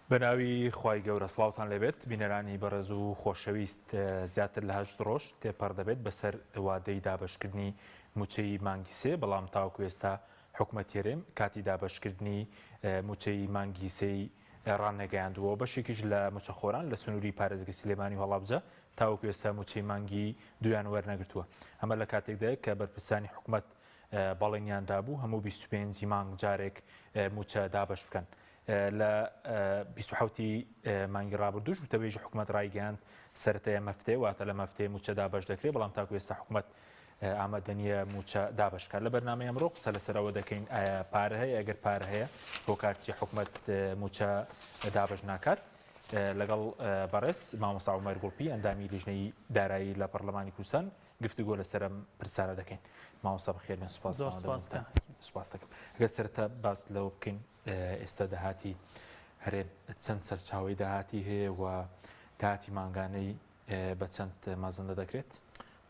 بەناوی خی گەورە سلااوان لەبێت بینەرانی بەڕێز و خۆشەویست زیاتر لە هەشت ڕۆژ تێپەر دەبێت بەسەر وادەی دابشکردنی موچەی مانگی سێ بەڵام تاوکوێستا حکومەت هەرێم کاتی دابەشکردنی مووچەی مانگی سێی ڕاننەگەیاندووە، بەشێکیش لە مووچەخۆران لە سنووری پارێزگە سلێمانی و هەڵەبجە تاوەکو ئێستا مووچەی مانگی دوویان وەرنەگرتووە، ئەمە لە کاتێکدایە کە بەرپرسانی حکومەت بەڵێنیان دابوو هەموو بیست و پێنج ی مانگ جارێک مووچە دابەش بکەن. لە بیست و حەوت ی مانگی ڕابردووش وتەبێژی حکومەت ڕایگەیاند سەرەتای ئەم هەفتەیە واتە لەم هەفتەیە مووچە دابەش دەکرێت، بەڵام تاکو ئێستا حکومەت ئامادەنیە موچە دابەشکات لە بەرنامەی ئەمڕۆ قسە لەسەر ئەوە دەکەین ئایا پارە هەیە ئەگەر پارە هەیە هۆکارچی حکومت موچە دابش ناکات لەگەڵ بەڕێز مامۆسا عمر گوڵپی ئەندامی لیژنەی دارایی لە پەرلەمانی کوردستان گفتوگۆ لەسرم پرسارە دەکەین ماوەسا بەخێرن سوپاس سوپاس دەکەم گە سەرتا باس لەوە بکەین ئێستا داهاتی هەرێم چەند سەرچاوی داهاتی هەیە و داهاتی مانگانەی بە چەند مەزەندە دەکرێت؟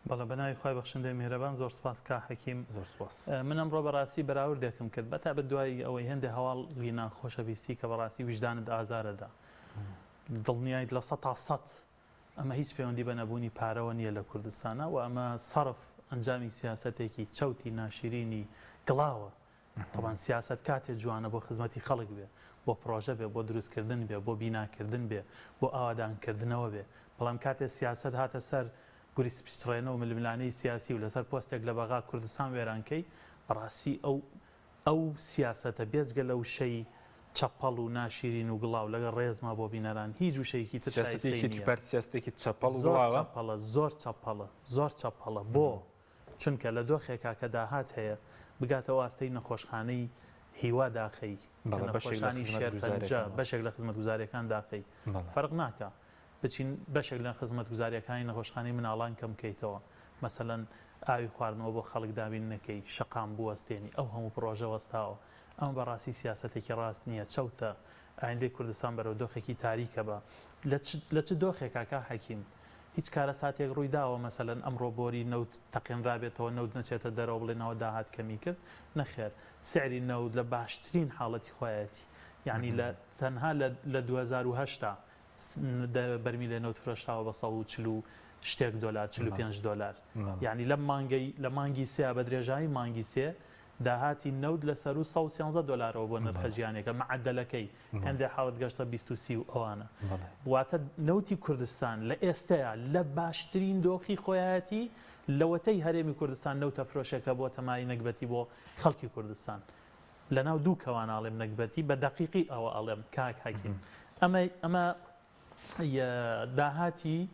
بەڵێ بەناوی خوای بەخشندەی میهرەبان زۆر سوپاس کاک حەکیم زۆر سوپاس. من ئەمڕۆ بەڕاستی بەراوردێکم کرد بەتایبەت دوای ئەوەی هێندێ هەواڵی ناخۆشە بیستی کە بەڕاستی ویژدانت ئازارەدا دڵنیایت لە سەتا سەت ئەمە هیچ پەیوەندی بە نەبوونی پارەوە نییە لە کوردستانا وە ئەمە سەرف ئەنجامی سیاسەتێکی چەوتی ناشرینی گڵاوە تەبان سیاسەت کاتێ جوانە بۆ خزمەتی خەڵک بێ، بۆ پڕۆژە بێ، بۆ دروستکردن بێ، بۆ بیناکردن بێ، بۆ ئاوادانکردنەوە بێ، بەڵام کاتێ سیاسەت هاتە سەر گوری سپچڕێنە و ململانێی سیاسی و لەسەر پۆستێک لە بەغا کوردستان وێران کەی، بەڕاستی ئەو ئەو سیاسەتە بێجگە لە وشەی چەپەڵ و ناشیرین و گڵاو، لەگەڵ ڕێزما بۆ بینەران، هیچ وشەیەکی تر شایستەی نییە. سیاسەتی یەکێتی پارتی سیاسەتێکی چەپەڵ و گڵاوە. زۆر چەپەڵە، زۆر چەپەڵە، زۆر چەپەڵە. بۆ؟ چونکە لە دۆخێکا کە داهات هەیە بگاتەوە ئاستەی نەخۆشخانەی هیوا داخەی کە بەڵێ بەشێک لە نەخۆشانی خزمەت شێرپەنجە گوزارەکان. بەشێک لە خزمەت گوزاریەکان داخەی بەڵێ. فەرق ناکا بچین بەشێک لە خزمەت گوزاریەکانی نەخۆشخانەی مناڵان کەم کەیتەوە مەسەلەن ئاوی خواردنەوە بۆ خەڵک دابین نەکەی شەقام بوەستێنی ئەو هەموو پڕۆژە وەستاوە ئەمە بەڕاستی سیاسەتێکی ڕاست نیە چەوتە ئایندەی کوردستان بەرەو دۆخێکی تاریکە بە لە چ لە چ دۆخێکا کا حەکیم؟ هیچ کارەساتێک ڕووی داوە مەسەلەن ئەمڕۆ بۆری نەوت تەقێنرابێتەوە نەوت نەچێتە دەرەوە بڵێن ئەوە داهات کەمی کرد؟ نەخێر سعری نەوت لە باشترین حاڵەتی خۆیەتی یانی لە تەنها لە لە دوو هەزار و هەشت دا دە بەرمیلێ نەوت فرۆشراوە بە سەد و چل و شتێک دۆلار چل و پێنج دۆلار یانی لەم مانگەی لە مانگی سێ بە درێژایی مانگی سێ داهاتی نەوت لە سەروو سەد و سیانزە دۆلارەوە بۆ نرخە جیهانیەکە مەعەدەلەکەی هێندێ حاڵت گەشتە بیست و سی و ئەوانە واتە نەوتی کوردستان لە ئێستەیا لە باشترین دۆخی خۆیایەتی لەوەتەی هەرێمی کوردستان نەوتە فرۆشێکە بۆتە مای نەگبەتی بۆ خەڵکی کوردستان لەناو دوو کەوان ئاڵێم نەگبەتی بە دەقیقی ئەوە ئەڵێم کاک حەکیم ئەمەی ئەمە ی داهاتی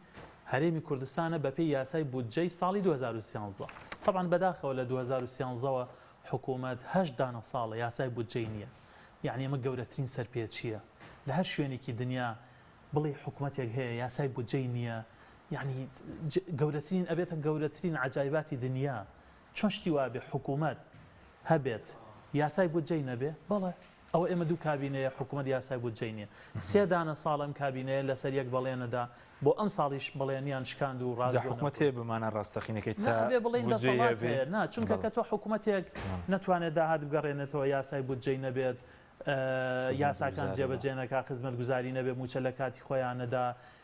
هەرێمی کوردستانە بەپێی یاسای بودجەی ساڵی دوو هەزار و سیانزە. تەبعەن بەداخەوە لە دوو هەزار و سیانزە وە حکوومەت هەشت دانە ساڵە یاسای بودجەی نییە. یەعنی ئەمە گەورەترین سەرپێچییە. لە هەر شوێنێکی دنیا بڵێی حکومەتێک هەیە یاسای بودجەی نییە یەعنی گەورەترین ئەبێتە گەورەترین عەجایباتی دنیا. چۆن شتی وابێ حکوومەت هەبێت یاسای بودجەی نەبێ؟ بەڵێ. ئەوە ئێمە دوو کابینەیە حکومەت یاسای بودجەی نیە سێ دانە ساڵ ئەم کابینەیە لەسەر یەک بەڵێنەدا بۆ ئەمساڵیش بەڵێنیان شکاند و ڕاست بۆ نەکرد. نا ئەبێ بڵێین دەسەڵات هەیە نا چونکە کە تۆ حکومەتێک نەتوانێت داهات بگەڕێنێتەوە یاسای بودجەی نەبێت یاساکان جێبەجێ نەکا خزمەتگوزاری نەبێ موچە لەکاتی خۆیان نەدا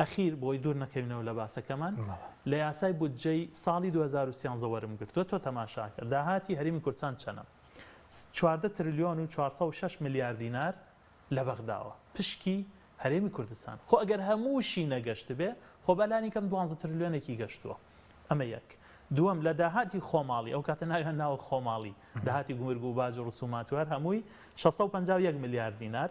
ئەخیر بۆی دوور نەکەوینەوە لە باسەکەمان، لە یاسای بودجەی ساڵی دوو هەزار و سیانزە وەرمگرتووە، تۆ تەماشاکە داهاتی هەرێمی کوردستان چەنە، چواردە ترلیۆن و چوار سەد و شەش ملیار دینار لە بەغداوە، پشکی هەرێمی کوردستان، خۆ ئەگەر هەمووشی نەگەشتبێ، خۆ با لانیکەم دوانزە ترلیۆنێکی گەشتووە، ئەمە یەک، دووەم لە داهاتی خۆماڵی، ئەو کاتە ناویان ناوە خۆماڵی، داهاتی گومرگ و باج و رسومات و هەر هەمووی شەش سەد و پەنجا و یەک ملیار دینار،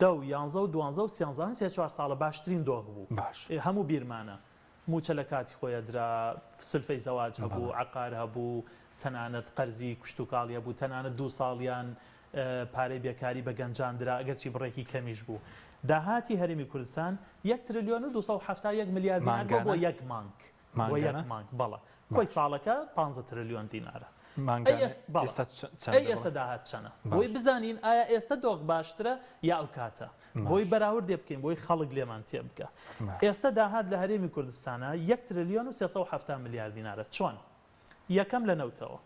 دە و یانزە و دوانزە و سیانزە ئەم سێ چوار ساڵە باشترین دۆخ بوو باش. هەموو بیرمانە مووچە لە کاتی خۆی ئەدرا سلفەی زەواج هەبوو بەڵێ. عەقار هەبوو تەنانەت قەرزی کشتوکاڵی هەبوو تەنانەت دوو ساڵیان پارەی بێکاری بە گەنجان درا ئەگەرچی بڕێکی کەمیش بوو داهاتی هەرێمی کوردستان یەک ترلیۆن و دوو سەد و حەفتا و یەک ملیار دینار بووە بۆ مانگانە؟ یەک مانگ بۆ مانگانە؟ یەک مانگ بەڵێ کۆی باش. ساڵەکە پانزە ترلیۆن دینارە ئەی مانگانە ئێست بەڵێ ئێستا چ چەندە ئەی بڕە؟ ئێستە داهات چەنە بۆی باش. بزانین ئایا ئێستە دۆخ باشترە یا ئەو کاتە بۆی باش. بەراوردێ بکەین بۆی خەڵک لێمان تێ بگا باش. ئێستە داهات لە هەرێمی کوردستانا یەک ترلیۆن و سێ سەد و حەفتا ملیار دینارە چۆن یەکەم لە نەوتەوە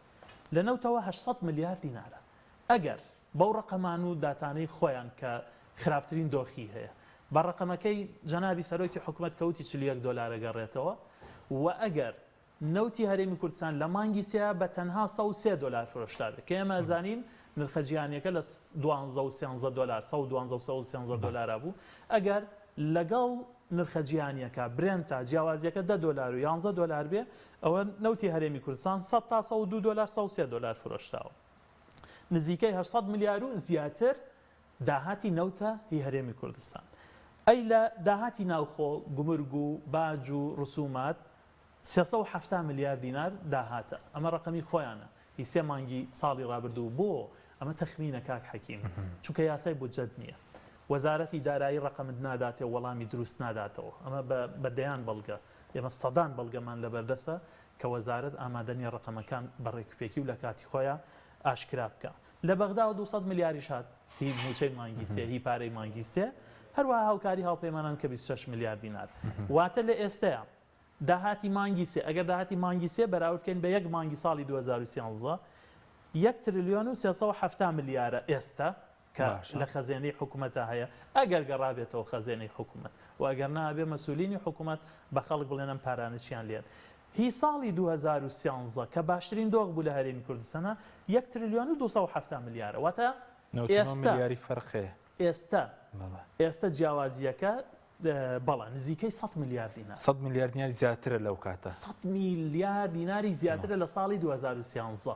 لە نەوتەوە هەشت سەد ملیار دینارە ئەگەر بەو ڕەقەمان و داتانەی خۆیان کە خراپترین دۆخی هەیە بە ڕەقەمەکەی جەنابی سەرۆکی حکومەت کەوتی چل و یەک دۆلار ئەگەڕێتەوە و ئەگەر نەوتی هەرێمی کوردستان لە مانگی سێ بە تەنها سەد و سێ دۆلار فرۆشرابێت کە ئێمە ئەزانین نرخە جیهانیەکە لە دوانزە و سێنزە دۆلار سەد و دوانزە و سەد و سێنزە دۆلارا بوو ئەگەر لەگەڵ نرخە جیهانیەکە برێنتا جیاوازیەکە دە دۆلار و یانزە دۆلار بێ ئەوە نەوتی هەرێمی کوردستان سەد تا سەد و دوو دۆلار سەد و سێ دۆلار فرۆشراوە. نزیکەی هەشت سەد ملیار و زیاتر داهاتی نەوتە هی هەرێمی کوردستان ئەی لە داهاتی ناوخۆ گومرگ و باج و رسومات سێ سەد و حەفتا ملیار دینار داهاتە ئەمە رەقەمی خۆیانە هی سێ مانگی ساڵی رابردوو بۆ ئەمە تەخمینە کاک حەکیم چونکە یاسای بودجەت نیە وەزارەتی دارایی رەقەمت ناداتێ وەڵامی دروست ناداتەوە ئەمە بە بە دەیان بەڵگە ئێمە سەدان بەڵگەمان لەبەردەسە کە وەزارەت ئامادە نیە ڕەقەمەکان بە ڕێکوپێکی و لە کاتی خۆیان ئاشکرا بکا. لە بەغداوە دوو سەد ملیاریش هات هی مووچەی مانگی سێ، هی پارەی مانگی سێ، هەروەها هاوکاری هاوپەیمانان کە بیست و شەش ملیار دینار. واتە لە ئێستەیا داهاتی مانگی سێ، ئەگەر داهاتی مانگی سێ بەراورد کەین بە یەک مانگی ساڵی دوو هەزار و سیانزە، یەک ترلیۆن و سێ سەد و حەفتا ملیارە ئێستە. کە لە خەزێنەی حکومەتا هەیە ئەگەر گەڕابێتەوە خەزێنەی حکومەت و ئەگەر نا ئەبێ مەسولینی حکومەت بە خەڵک بڵێن ئەم پارانە چیان لێ هی ساڵی دوو هەزار و سیانزە کە باشترین دۆخ بوو لە هەرێمی کوردستانا یەک ترلیۆن و دوو سەد و حەفتا ملیارە واتە ئێستا ئێستا ئێستا جیاوازیەکە بەڵا نزیکەی سەد ملیار دینار سەد ملیار دیناری زیاترە لەو کاتە سەد ملیار دیناری زیاترە لە ساڵی دوو هەزار و سیانزە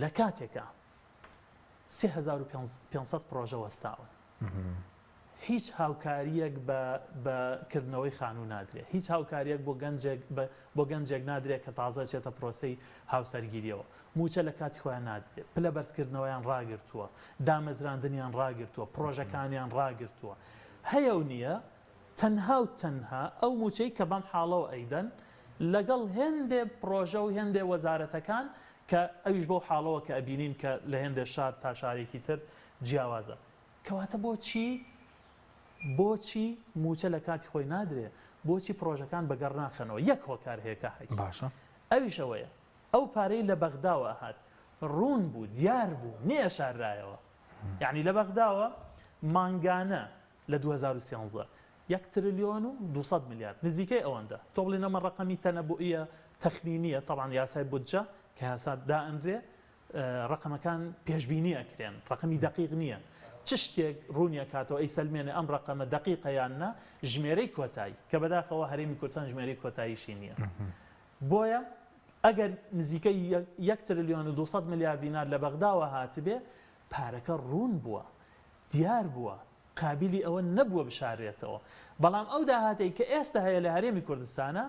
لە کاتێکە سێ هەزار و پێنج سەد پڕۆژە وەستاون. هیچ هاوکارییەک بە کردنەوەی خانوو نادرێت. هیچ هاوکارییەک بۆ گەنجێک نادرێت کە تازە دەچێتە پرۆسەی هاوسەرگیرییەوە. مووچە لە کاتی خۆیان نادرێت. پلە بەرزکردنەوەیان ڕاگرتووە. دامەزراندنیان ڕاگرتووە. پڕۆژەکانیان ڕاگرتووە. هەیە و نییە. تەنها و تەنها ئەو مووچەی کە بەم حاڵەوە ئەیدەن، لەگەڵ هێندێ پڕۆژە و هێندێ وەزارەتەکان کە ئەویش بەو حاڵەوە کە ئەبینین کە لە هێندێ شار تا شارێکی تر جیاوازە. کەواتە بۆچی بۆچی مووچە لە کاتی خۆی نادرێ؟ بۆچی پڕۆژەکان بە گەڕ ناخەنەوە؟ یەک هۆکار هەیە کاک حەکی. باشە. ئەویش ئەوەیە ئەو پارەی لە بەغداوە ئەهات ڕوون بوو دیار بوو نەیەشاررایەوە. یانی لە بەغداوە مانگانە لە دوو هەزار و سیانزە یەک ترلیۆن و دوو سەد ملیار نزیکەی ئەوەندە تۆ بڵێی نەمە ڕەقەمی تەنەبوئیە تەخمینیە تەبعەن یاسای بودجە کە یاسا دائەنرێ ڕەقەمەکان پێشبینی ئەکرێن ڕەقەمی دەقیق نیە چ شتێک ڕوونی ئەکاتەوە ئەیسەلمێنێ ئەم ڕەقەمە دەقیقە یان نا ژمێرەی کۆتایی کە بەداخەوە هەرێمی کوردستان ژمێرەی کۆتاییشی نیە بۆیە ئەگەر نزیکەی یەک ترلیۆن و دوو سەد ملیار دینار لە بەغداوە هاتبێ پارەکە ڕوون بووە، دیار بووە، قابیلی ئەوە نەبووە بشاررێتەوە، بەڵام ئەو داهاتەی کە ئێستە هەیە لە هەرێمی کوردستانا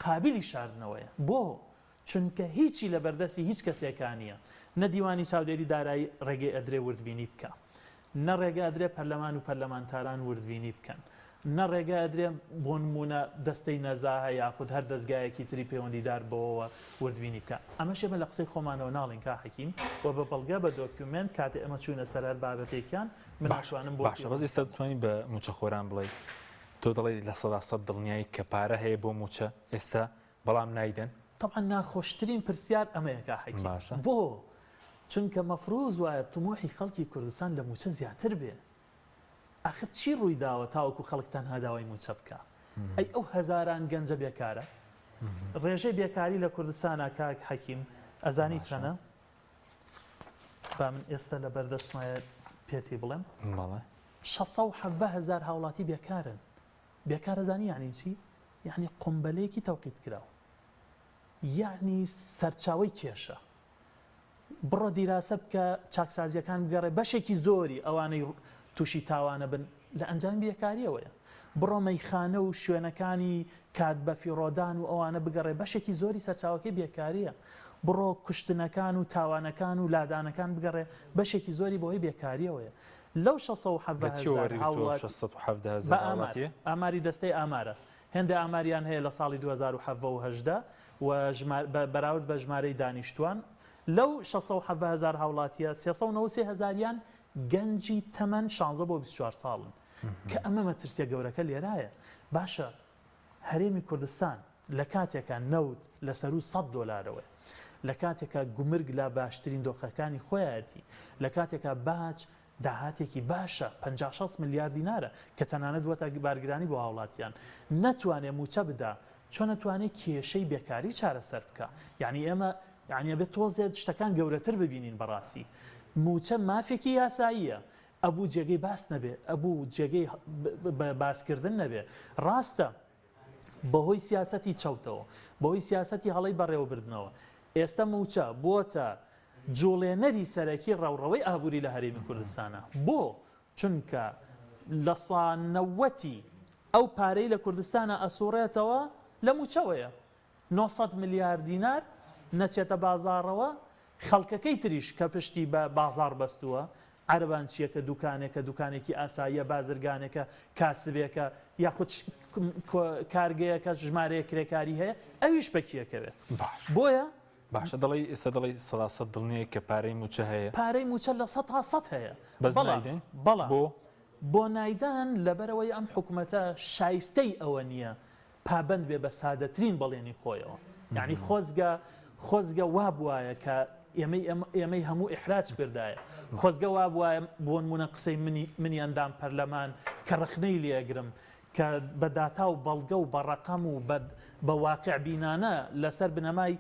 قابیلی شاردنەوەیە، بۆ؟ چونکە هیچی لە بەردەستی هیچ کەسێکا نییە، نە دیوانی چاودێری دارایی ڕێگەی ئەدرێ وردبینی بکا، نە ڕێگە ئەدرێ پەرلەمان و پەرلەمانتاران وردبینی بکەن، نە ڕێگە ئەدرێن بۆ نموونە دەستەی نەزاهە یاخود هەر دەزگایەکی تری پەیوەندیدار بەوەوە وردبینی بکا. ئەمەش ئێمە لە قسەی خۆمانەوە ناڵێین کا حەکیم و بە بەڵگە بە دۆکیومێنت کاتێ ئێمە چووینە سەر هەر بابەتێکیان من ناتوانم بۆ باشە بەس ئێستا دەتوانی بە مووچەخۆران بڵێی تۆ دەڵێی لە سەدا سەد دڵنیایی کە پارە هەیە بۆ مووچە ئێستا بەڵام نایدەن؟ تەبعەن ناخۆشترین پرسیار ئەمەیە کا حەکیم. بۆ؟ چونکە مەفروز وایە تموحی خەڵکی کوردستان لە مووچە زیاتر بێ. ئاخر چی ڕوویداوە تاوەکو خەڵک تەنها داوای مووچە بکا؟ ئەی ئەو هەزاران گەنجە بێکارە؟ ڕێژەی بێکاری لە کوردستانا کاک حەکیم ئەزانی چەنە؟ با من ئێستا لە بەردەستمایە پێتی بڵێم. بەڵێ. شەست سەد و حەڤدە هەزار هاوڵاتی بێکارن. بێکار ئەزانی یەعنی چی؟ یەعنی قومبەلەیەکی تەوقیتکراو. یەعنی سەرچاوەی کێشە. بڕۆ دیراسە بکە چاکسازیەکان بگەڕێ بەشێکی زۆری ئەوانەی تووشی تاوانە بن لە ئەنجامی بێکاریەوەیە بڕۆ مەیخانە و شوێنەکانی کات بەفیڕۆدان و ئەوانە بگەڕێ بەشێکی زۆری سەرچاوەکەی بێکاریە بڕۆ کوشتنەکان و تاوانەکان و لادانەکان بگەڕێ بەشێکی زۆری بەوەی بێکاریەوەیە لەو 670 هەزار هاوڵاتی بە ئامار ئاماری دەستەی ئامارە هێندە ئاماریان هەیە لە ساڵی دوو هەزار و حەڤە و هەژدە و ژمار بە بەراورد بە ژمارەی دانیشتوان، لەو شەست سەد و حەڤە هەزار هاوڵاتییە، سێ سەد و نەوەد و سێ هەزاریان گەنجی تەمەن شانزە بۆ بیست و چوار ساڵن، کە ئەمە مەترسییە گەورەکە لێرایە. باشە هەرێمی کوردستان لە کاتێکا نەوت لە سەروو سەد دۆلارەوەیە، لە کاتێکا گومرگ لە باشترین دۆخەکانی خۆیایەتی، لە کاتێکا باج داهاتێکی باشە، پەنجا شەست ملیار دینارە، کە تەنانەت بووەتە بارگرانی بۆ هاوڵاتیان. نەتوانێ مووچە بدا، چۆن ئەتوانێ کێشەی بێکاری چارەسەر بکا؟ یانی ئێمە یانی ئەبێ تۆزێ شتەکان گەورەتر ببینین بەڕاستی. مووچە مافێکی یاساییە، ئەبوو جێگەی باس نەبێ، ئەبوو جێگەی باسکردن نەبێ. ڕاستە بەهۆی سیاسەتی چەوتەوە، بەهۆی سیاسەتی هەڵەی بەڕێوەبردنەوە، ئێستە مووچە بۆتە جوڵێنەری سەرەکی ڕەوڕەوەی ئابووری لە هەرێمی کوردستانا. بۆ؟ چونکە لە سا نەوەتی ئەو پارەی لە کوردستانا ئەسووڕێتەوە لە مووچەوەیە. نۆ سەد ملیار دینار نەچێتە بازاڕەوە، خەڵکەکەی تریش کە پشتی بە بازاڕ بەستووە، عەرەبان چییە کە دوکانێکە، دوکانێکی ئاساییە، بازرگانێکە، کاسبێکە، یاخود کارگەیەکە ژمارەیەک کرێکاری هەیە، ئەویش پەکیەکەوێت. باش. بۆیە. باشە دەڵێی ئێستا دەڵێی سەدا سەد دڵنیای کە پارەی مووچە هەیە؟ پارەی مووچە لە سەد تا سەد هەیە. بەس نایدەین؟ بەڵام. بۆ؟ بۆ نایدەن لەبەرئەوەی ئەم حکومەتە شایستەی ئەوە نییە پابەند بێ بە سادەترین بەڵێنی خۆیەوە یانی خۆزگە خۆزگە وابوایە کە ئێمەی ئێمەی هەموو ئحراج کردایە خۆزگە وابواە بۆنمونە قسەی منی منی ئەندام پەرلەمان کە ڕخنەی لێگرم کە بە داتا و بەڵگە و بەڕقەم و بە واقع بینانە لەسەر بنەمای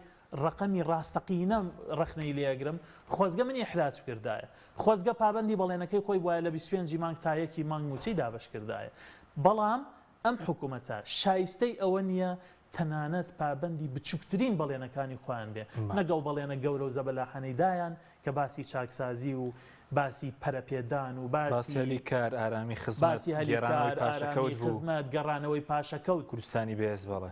ڕقەمی ڕاستەقینە ڕخنەی لێگرم خۆزگە منی ئحراج کردایە خۆزگە پابندی بەڵێنەکەی خۆی وایە لە 25 مانگ تایەکی مانگ موچەی دابش کردایە بەڵام ئەم حکومەتە شایستەی ئەوە نییە تەنانەت پابەندی بچووکترین بەڵێنەکانی خۆیان بێ نەگەڵ بەڵێنە گەورە و زەبەلاحانەی دایان کە باسی چاکسازی و باسی پەرەپێدان و باسی هەلی کار، ئارامی خزمەت، گێڕانەوەی پاشەکەوت بوو. کوردستانی بەهێز بەڵێ.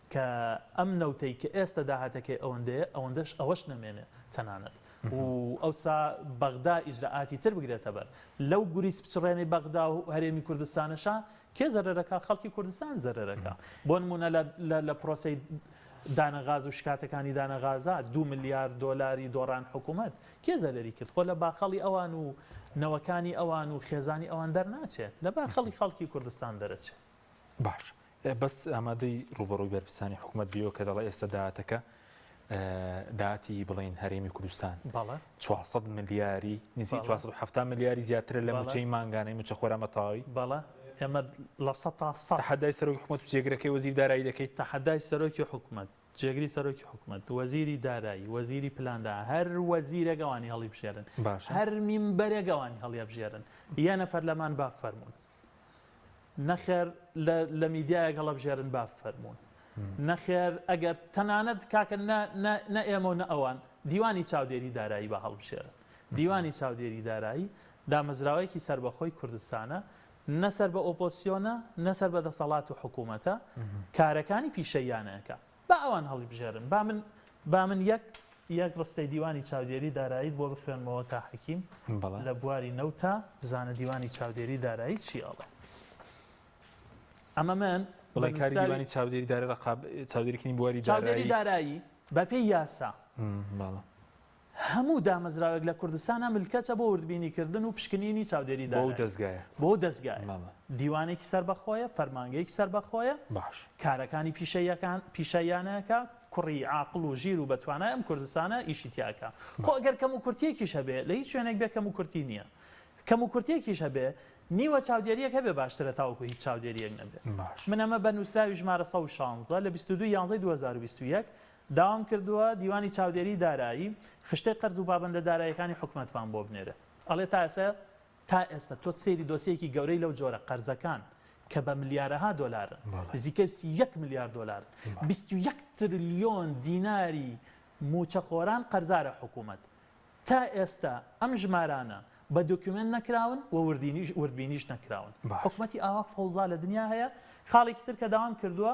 کە ئەم نەوتەی کە ئێستە داهاتەکەی ئەوەندەیە ئەوەندەش ئەوەش نەمێنێ تەنانەت و ئەوسا بەغدا ئیجرائاتی تر بگرێتە بەر لەو گوریس بچڕێنەی بەغدا و هەرێمی کوردستانەشا کێ زەرەرەکا خەڵکی کوردستان زەرەرەکا بۆ نموونە لە لە لە پرۆسەی دانە غاز و شکاتەکانی دانە غازا دوو ملیار دۆلاری دۆڕان حکوومەت کێ زەرەری کرد خۆ لە باخەڵی ئەوان و نەوەکانی ئەوان و خێزانی ئەوان دەرناچێ لە باخەڵی خەڵکی کوردستان دەرەچێ. باش بەس ئامادەی ڕوبەڕووی بەرپرسانی حکوومەت بیەوە کە دەڵێ ئێستا دااتەکە داتی بڵین هەرێمی کوردستان بەڵە 400 ملیاری نزی 470 ملیاری زیاترە لە موچەی مانگانەی موچە خۆرامە تاوی بەڵە ئێمە لە سە تا سە حدای سەرۆک حکومت و جێگرەکەی وەزیر دارایی دەکەیت تە حدای سەرۆکی حکومت جێگری سەرۆکی حکومت وەزیری دارایی وەزیری پلاندا هەر وەزیرەگەوانی هەڵی بژێرن باش هەر میم بەرەگەوانی هەڵیە بژێرن یانە پەرلەمان با فەرمونون نەخێر لە لە میدیایەک هەڵەبژێرن با بفەرموون. نەخێر ئەگەر تەنانەت کاکە نە نە نە ئێمە و نە ئەوان، دیوانی چاودێری دارایی با هەڵبژێرن. دیوانی چاودێری دارایی دامەزراوەیەکی سەربەخۆی کوردستانە، نە سەر بە ئۆپۆزسیۆنە، نە سەر بە دەسەڵات و حکوومەتە، کارەکانی پیشەییانە ئەکا. با ئەوان هەڵیبژێرن، با من با من یەک یەک ڕستەی دیوانی چاودێری داراییت بۆ بخوێنمەوە کا حەکیم، بەڵێ. لە بواری نەوتا، بزانە دیوانی چاودێری دارایی چی ئەڵێ. ئەمە من بە بڵێ کاری نووسراوی دیوانی چاودێری دارای ڕقاب چاودێریکردنی بواری چاودێری دارایی دارایی بەپێی یاسا، بەڵێ. هەموو دامەزراوێک لە کوردستانا ملکەچە بۆ وردبینی کردن و پشکنینی چاودێری بۆ ئەو دارایی دەزگایە. بۆ ئەو دەزگایە. بەڵێ. دیوانێکی سەربەخۆیە، فەرمانگەیەکی سەربەخۆیە، باش. کارەکانی پیشەییەکان، پیشەییانە ئەکا، کوڕی عاقڵ و ژیر و بە توانای ئەم کوردستانە ئیشی تیا ئەکا. خۆ ئەگەر کەموکورتییەکیش هەبێ، لە هیچ شوێنێک بێ کەموکورتی نییە. کەموکورتییەکیش هەبێ، نیوە چاودێرییەک هەبێ باشترە تاوەکو هیچ چاودێرییەک نەبێ. باش. من ئەمە بە نووسراوی ژمارە سەد و شانزە لە بیست و دوو یانزەی دوو هەزار و بیست و یەک داوام کردووە دیوانی چاودێری دارایی خشتەی قەرز و پابەندە داراییەکانی حکومەتمان بۆ بنێرێ ئەڵێ تا ئێستا تا ئێستا تۆ سەیری دۆسیەیەکی گەورەی لەو جۆرە قەرزەکان کە بە ملیارەها دۆلارن نزیکەی سی و یەک ملیار دۆلارن بیست و یەک ترلیۆن دیناری مووچەخۆران قەرزارە حکومەت تا ئێستا ئەم ژمارانە بە دۆکیومێنت نەکراون و وردینیش وردبینیش نەکراون حکومەتی ئاوا فەوزا لە دنیا هەیە خاڵێکی تر کە داوام کردووە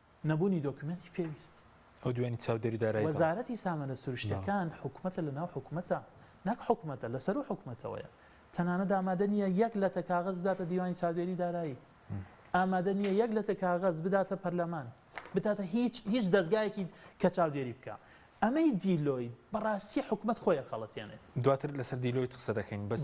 نەبوونی دۆکیومێنتی پێویست. ئەو دوێنی چاودێری دارایی بکەم. وەزارەتی سامانە سروشتیەکان حکومەتە لەناو حکومەتە نەک حکومەتە لەسەروو حکومەتەوەیە تەنانەت ئامادە نییە یەک لەتە کاغەز بداتە دیوانی چاودێری دارایی ئامادە نییە یەک لەتە کاغەز بداتە پەرلەمان بداتە هیچ هیچ دەزگایەکی کە چاودێری بکە ئەمەی دیلۆید بەڕاستی حکومەت خۆی ئەخەڵەتێنێت. دواتر لەسەر دیلۆید قسە دەکەین بەس.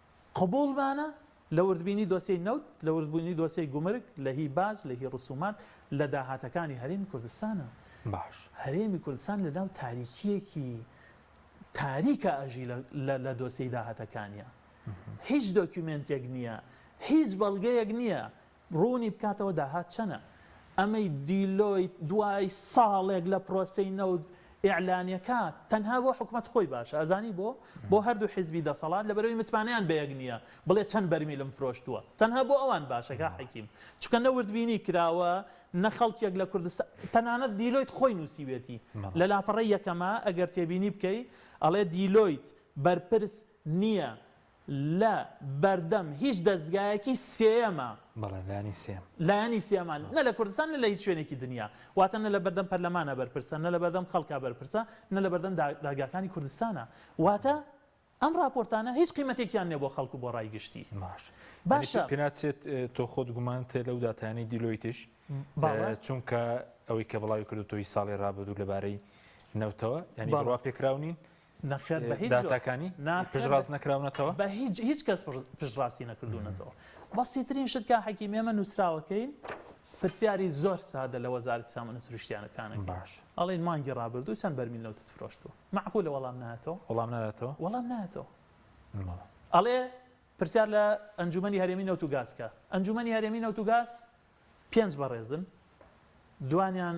قبوڵمانە لە وردبینی دۆسیەی نەوت، لە وردبوونی دۆسیەی گومرگ، لە هی باج، لە هی ڕسومات، لە داهاتەکانی هەرێمی کوردستانە. باش. هەرێمی کوردستان لە ناو تاریکییەکی تاریکا ئەژی لە لە دۆسیەی داهاتەکانیا. هیچ دۆکیومێنتێک نییە، هیچ بەڵگەیەک نییە ڕوونی بکاتەوە داهات چەنە؟ ئەمەی دیلۆیت دوای ساڵێک لە پرۆسەی نەوت ئیعلانیەکا تەنها بۆ حکومەت خۆی باشە ئەزانی بۆ؟ بۆ هەردوو حیزبی دەسەڵات لەبەرەوەی متمانەیان بەیەک نیە بڵێ چەند بەرمیلم فرۆشتووە تەنها بۆ ئەوان باشە کا حەکیم چونکە نە وردبینی کراوە نە خەڵکێک لە کوردستان تەنانەت دیلۆیت خۆی نوسیوێتی لە لاپەڕەی یەکەما ئەگەر تێبینی بکەی ئەڵێ دیلۆیت بەرپرس نیە لە بەردەم هیچ دەزگایەکی سێیەمە. بەڵێ لایەنی سێیەم. لایەنی سێیەمە نە لە کوردستان نە لە هیچ شوێنێکی دنیا. واتە نە لە بەردەم پەرلەمانە بەرپرسە، نە لە بەردەم خەڵکە بەرپرسە، نە لە بەردەم دادگاکانی کوردستانە. واتە ئەم ڕاپۆرتانە هیچ قیمەتێکیان نیە بۆ خەڵک و بۆ ڕای گشتی. باشە. باشە. پێ ناچێت تۆ خۆت گومانت هەیە لەو داتایانەی دیلۆیتش؟ بەڵێ. چونکە ئەوەی کە بڵاوی کردووتەوە هی ساڵی ڕابردوو لەبارەی نەوتەوە یانی بڕوا پێکراو نین؟ نەخێر بە هیچ جۆر داتاکانی ناخێر پشتڕاست نەکراونەتەوە؟ بە هیچ هیچ کەس پشتڕاستی نەکردوونەتەوە بەسیترین شت کاک حەکیم ئێمە نووسراوەکەین پرسیاری زۆر سادە لە وەزارەتی سامانە سروشتییانەکانەکەین باش ئەڵێن مانگی ڕابردوو چەند بەرمیل نەوتت فرۆشتووە معقولە وەڵام نایەتەوە وەڵام نایەتەوە وەڵام نایەتەوە بەڵێ. ئەڵێ پرسیار لە ئەنجومەنی هەرێمی نەوت و گاز کە ئەنجومەنی هەرێمی نەوت و گاز پێنج بەڕێزن دوانیان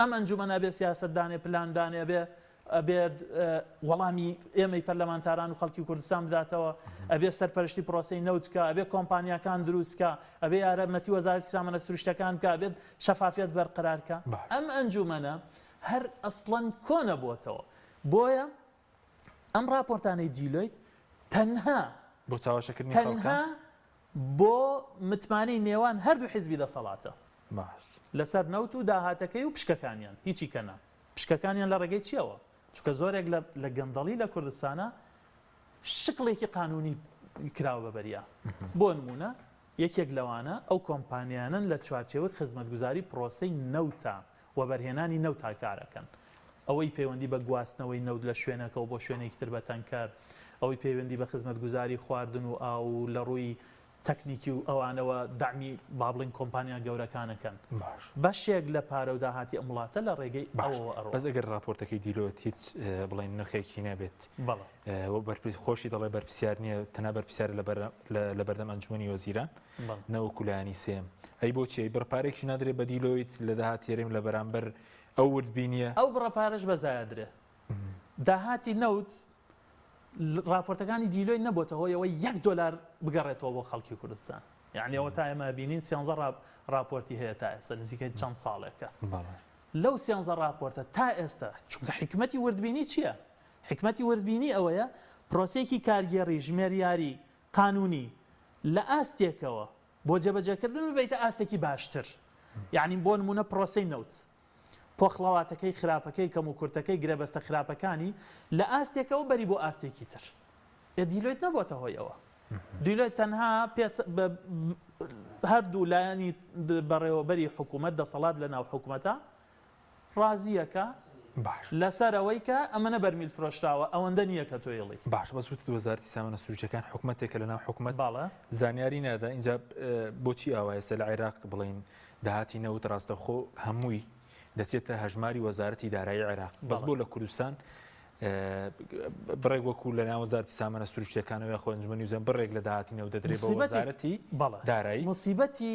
ئەم ئەنجومەن ئەبێ سیاسەت دانێ پلان دانێ ئەبێ ئەبێت وەڵامی ئێمەی پەرلەمانتاران و خەڵکی کوردستان بداتەوە ئەبێ سەرپەرشتی پرۆسەی نەوت کا ئەبێ کۆمپانیاکان دروست کا ئەبێ یارە مەتی وەزارەتی سامانە سروشتەکان کا بێت شەفافیت بەرقرار کا ئەم ئەنجومەنە هەر ئەسڵەن کۆنە بۆتەوە بۆیە ئەم ڕاپۆرتانەی جیلۆیت تەنها بۆ چاوەشەکردنی خەڵکە؟ تەنها بۆ متمانەی نێوان هەردوو حیزبی دەسەڵاتە باش لەسەر نەوت و داهاتەکەی و پشکەکانیان هیچی کە نا پشکەکانیان لە ڕێگەی چیەوە چونکە زۆرێک لە لە گەندەڵی لە کوردستانە شکڵێکی قانونی کراوە بە بەریا بۆ نمونە یەکێک لەوانە ئەو کۆمپانیانەن لە چوارچێوەی خزمەتگوزاری پرۆسەی نەوتە، وەبەرهێنانی نەوتا کارەکەن. ئەوەی پەیوەندی بە گواستنەوەی نەوت لە شوێنەکەوە بۆ شوێنێکی تر بە تەنکەر، ئەوەی پەیوەندی بە خزمەتگوزاری خواردن و ئاو و لە ڕووی تەکنیکی و ئەوانەوە دەعمی با بڵێین کۆمپانیا گەورەکان ئەکەن. بەشێک لە پارە و داهاتی ئەم وڵاتە لە ڕێگەی ئەوەوە ئەڕوا. بەس ئەگەر ڕاپۆرتەکەی دیلۆت هیچ بڵێین نرخێکی نەبێت. بەڵێ. خۆشی دەڵێ بەرپسیار نییە تەنا بەرپسیار لە بەردەم ئەنجومی وەزیران نەوەکو لایانی سێم ئەی بۆچی بڕپارێکی نادرێ بەدیلۆیت لە داهات تێریم لە بەرامبەر ئەو وردبینیە ئەو بڕەپارش بەزایدرێ داهاتی نەوت راپۆرتەکانی دیلۆی نەبووتە هۆیەوە یەک دلار بگەڕێتەوە بۆ خەڵکی کوردستان یعنیەوە تا ئێمە بینین سیانزە راپۆرتی هەیە تا ئێستا نزیکە چەند ساڵێکە لەو سیانزە راپۆرتە تا ئێستا چونکە حکومەتی وردبینی چییە؟ حیکمەتی وردبینی ئەوەیە پرۆسەیەکی کارگێڕی ژمێریاری قانونی لە ئاستێکەوە بۆ جێبەجێکردن ببەیتە ئاستێکی باشتر یانی بۆ نمونە پرۆسەی نەوت پۆخڵەواتەکەی خراپەکەی کەم و کورتەکەی گرێبەستە خراپەکانی لە ئاستێکەوە بەری بۆ ئاستێکی تر ئێ دیلۆیت نەبووەتە هۆی ئەوە دیلۆیت تەنها پێت هەردوو لایەنی بەڕێوەبەری حکوومەت دەسەڵات لە ناو حکوومەتە ڕازیە کە؟ باش. لەسەر ئەوەی کە ئەمەنە بەرمیل فرۆشراوە ئەوەندە نیە کە تۆ ئیڵی. باش بەس وتت وەزارەتی سامانە سروشتیەکان حکومەتێکە لەناو حکومەت بەڵێ. زانیاری نادا ئینجا بۆچی ئاوایە ئێستا لە عێراق بڵێین داهاتی نەوت ڕاستەوخۆ هەمووی دەچێتە هەژماری وەزارەتی دارایی عێراق بەس بۆ لە کوردستان بڕێک وەکو لە ناو وەزارەتی سامانە سروشتیەکانەوە یاخۆ ئەنجومەنی وزە بڕێک لە داهاتی نەوت دەدرێت بە مصیبەتی. وەزارەتی بەڵێ. دارایی. مصیبەتی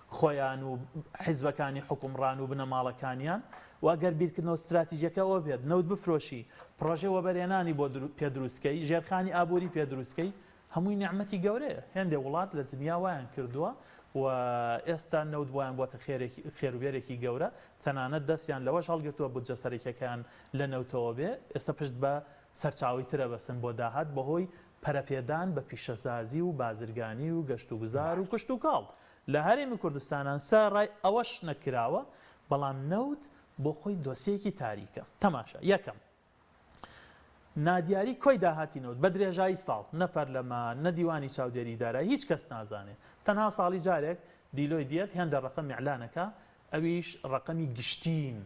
خۆیان و حیزبەکانی حوکمڕان و بنەماڵەکانیان و گەر بیرکردنەوە ستراتیجیەکە ئەوە بێت نەوت بفرۆشی، پڕۆژەی وەبەرهێنانی بۆ پێ دروست کەی، ژێرخانی ئابووری پێ دروست کەی، هەمووی نیعمەتی گەورەیە، هێندێ وڵات لە دنیا وایان کردووە و ئێستا نەوت بۆیان بووەتە خێروبێرێکی گەورە، تەنانەت دەستیان لەوەش هەڵگرتووە بودجە سەرەکیەکەیان لە نەوتەوە بێ، ئێستا پشت بە سەرچاوەی تر ئەبەستن بۆ داهات بەهۆی پەرەپێدان بە پیشەسازی و بازرگانی و گەشتوگوزار و کشتوکاڵ، لە هەرێمی کوردستانا سە رای ئەوەش نە کراوە بەڵام نەوت بۆ خۆی دۆسیەیەکی تاریکە تەماشا یەکەم نادیاری کۆی داهاتی نەوت بە درێژایی ساڵ نە پەرلەمان نە دیوانی چاودێری دارای هیچ کەس نازانێ تەنها ساڵی جارێک دیلۆی دیەت هێندە رەقەم ئیعلانەکا ئەویش ڕەقەمی گشتین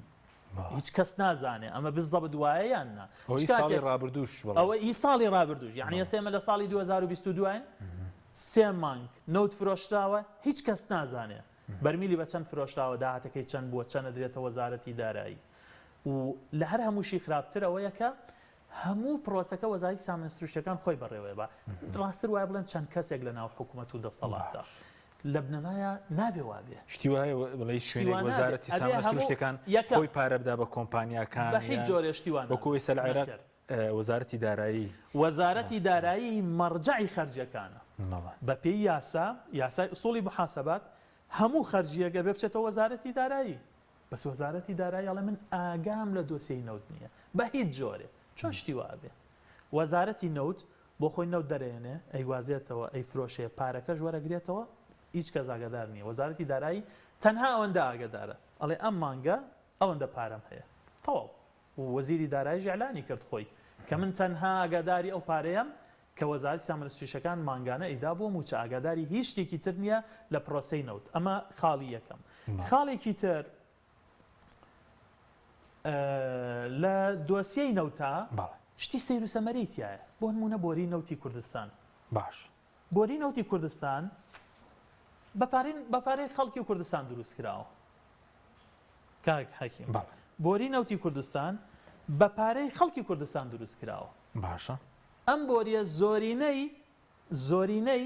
هیچ کەس نازانێ ئەمە بزەبت وایە یان نا هۆی چ کاتێ ساڵی ڕابردووش بڵێ ئەوە ئی ساڵی ڕابردووش یعنی ئێستا ئێمە لە ساڵی 2022 دواین سێ مانگ نەوت فرۆشراوە هیچ کەس نازانێ بەرمیلی بە چەند فرۆشراوە داهاتەکەی چەند بووە چەند ئەدرێتە وەزارەتی دارایی و لە هەر هەمووشی خراپتر ئەوەیە کە هەموو پرۆسەکە وەزارەتی سامانە سروشتیەکان خۆی بەڕێوەیە بە ڕاستتر وایە بڵێم چەند کەسێک لە ناو حکومەت و دەسەڵاتە لە بنەمایا نابێ وا بێ. شتی وا هەیە بڵێی شوێنێک شتی وا نابێ. وەزارەتی ئەبێ سامانە هەموو سروشتیەکان یەکەم. خۆی پارە بدا بە کۆمپانیاکان بە هیچ یان جۆرێ شتی وا وەکو نابێ. ئێستا لە عێراق نەخێر. ئە، وەزارەتی دارایی وەزارەتی دارایی مەڕجەعی خەرجیەکانە. بەڵێ. بە پێی یاسا، یاسای ئوسوڵی موحاسەبات، هەموو خەرجییەک ئەبێ بچێتەوە وەزارەتی دارایی. بەس وەزارەتی دارایی ئەڵێ من ئاگام لە دۆسیەی نەوت نییە. بە هیچ جۆرێ. چۆن شتی وا ئەبێ؟ وەزارەتی نەوت بۆ خۆی نەوت دەرێنێ، ئەیگوازێتەوە، ئەیفرۆشێ، پارەکەش وەرەگرێتەوە، هیچ کەس ئاگادار نییە، وەزارەتی دارایی تەنها ئەوەندە ئاگەدارە، ئەڵێ ئەم مانگە ئەوەندە پارەم هەیە، تەواو، و وەزیری داراییش ئیعلانی کرد خۆی، کە من تەنها ئاگاداری ئەو پارەیەم، کە وەزارەتی سامانە سروشتییەکان مانگانە ئەیدا بۆ مووچە، ئاگاداری هیچ شتێکی تر نییە لە پرۆسەی نەوت، ئەمە خاڵی یەکەم. خاڵێکی تر لە دۆسیەی نەوتا شتی سەیر و سەمەرەی تایە بۆ نمونە بۆری نەوتی کوردستان باش بۆری نەوتی کوردستان بەپارین بەپارەی خەڵکی کوردستان دروست کراوە کاک حەکیم بۆری نەوتی کوردستان بە پارەی خەڵکی کوردستان دروست کراوە باشە ئەم بۆریە زۆرینەی زۆرینەی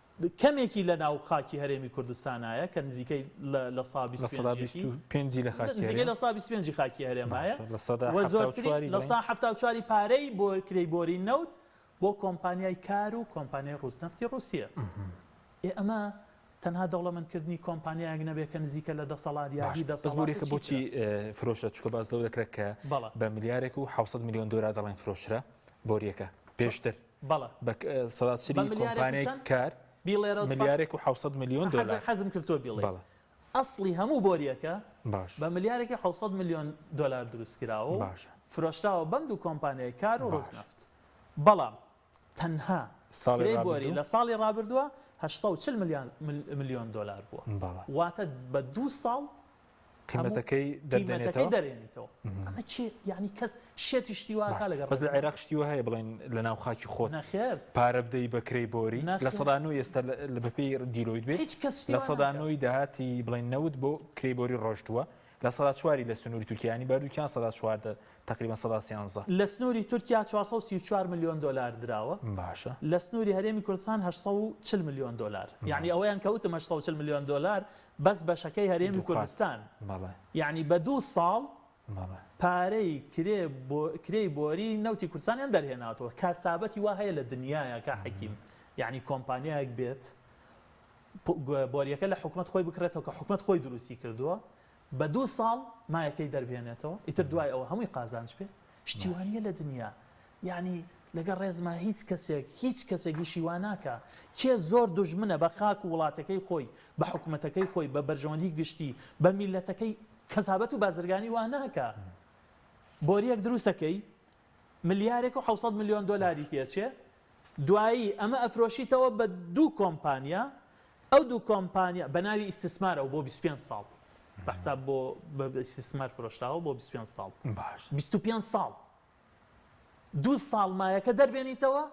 کەمێکی لە ناو خاکی هەرێمی کوردستانایە کە نزیکەی لە سا بیست و پێنج ی نزیکەی لە سا بیست و پێنج ی خاکی هەرێمایە و زۆرترین لە سا حەفتا و چوار ی پارەی بۆ کرێی بۆری نەوت بۆ کۆمپانیای کار و کۆمپانیای ڕووسنەفتی ڕووسیە. ئێ ئەمە تەنها دەوڵەمەندکردنی کۆمپانیایەک نەبێت کە نزیکە لە دەسەڵات یا هی دەسەڵات. بەس بۆریکە بۆچی فرۆشرا چونکە باس لەوە دەکرێت کە بە ملیارێک و حەوت سەد ملیۆن دۆلار دەڵێن فرۆشرا بۆریەکە پێشتر. بەڵە. بە سەداتشری کۆمپانیای کار ملیارێک و حەوت سەد ملیۆن دۆلار. حەزم کرد تۆ بیڵێی ئەسڵی هەموو بۆرییەکە بە ملیارێک و حەوت سەد ملیۆن دۆلار دروست کراوە و فرۆشراوە بەم دوو کۆمپانیای کار و ڕۆژنەفت. بەڵام تەنها کرێی بۆری لە ساڵی ڕابردووە هەشت سەد و چل ملیۆن دۆلار بووە. واتە بە دوو ساڵ قیمەتەکەی دەرێنیتەوە ئەمە چی یعنی کەس شێتی شتیواکە لەگە بەس لە عێراق شتیوە هەیە بڵێن لە ناو خاکی خۆ نەخێر پارە بدەی بەکرەی بۆری لە سەدان و ئێستا لە بەپی دیلۆیت بێت هیچ کەس لە سەدانەوەی داهاتی بڵێن نەوت بۆ کری بۆری ڕۆشتووە لە سەدا چواری لە سنووری تورکیانی بەردووکیان سەدا چواردە تقریبا سەدا سیانزە لە سنووری تورکیا 434 میلیۆن دلار دراوە باشە لە سنووری هەرێمی کوردستان 1940 میلیۆن دلار یعنی ئەوەیان کەوتم 1940 میلیۆن دلار بەس بەشەکەی هەرێمی کوردستان یانی بە دوو ساڵ پارەی کرێی بۆری نەوتی کوردستانیان دەرهێناتەوە کاسابەتی وا هەیە لە دنیاە کا حەکیم یعنی کۆمپانیایەک بێت بۆریەکە لە حکومت خۆی بکرێتەوە کە حکومت خۆی دروستی کردووە بە دوو ساڵ مایەکەی دەربێنێتەوە ئیتر دوای ئەوە هەمووی قازانج پێ شتی وا نیە لە دنیا یانی لەگەڵ ڕێزما هیچ کەسێک هیچ کەسێک ئیشی وا ناکا کێ زۆر دوژمنە بە خاک و وڵاتەکەی خۆی بە حکومەتەکەی خۆی بە بەرژەوەندی گشتی بە میلەتەکەی قەزابەت و بازرگانی وا ناکا بۆریەک دروست ئەکەی ملیارێک و حەوسەد ملیۆن دۆلاری تێچێ دوایی ئەمە ئەفرۆشیتەوە بە دوو کۆمپانیا ئەو دوو کۆمپانیا بە ناوی ئیستسمارەوە بۆ بیست و پێنج ساڵ بە حساب بۆ بە ئیستسمار فرۆشراوە بۆ بیست و پێنج ساڵ باش بیست و پێنج ساڵ دوو ساڵ مایەکە دەربێنیتەوە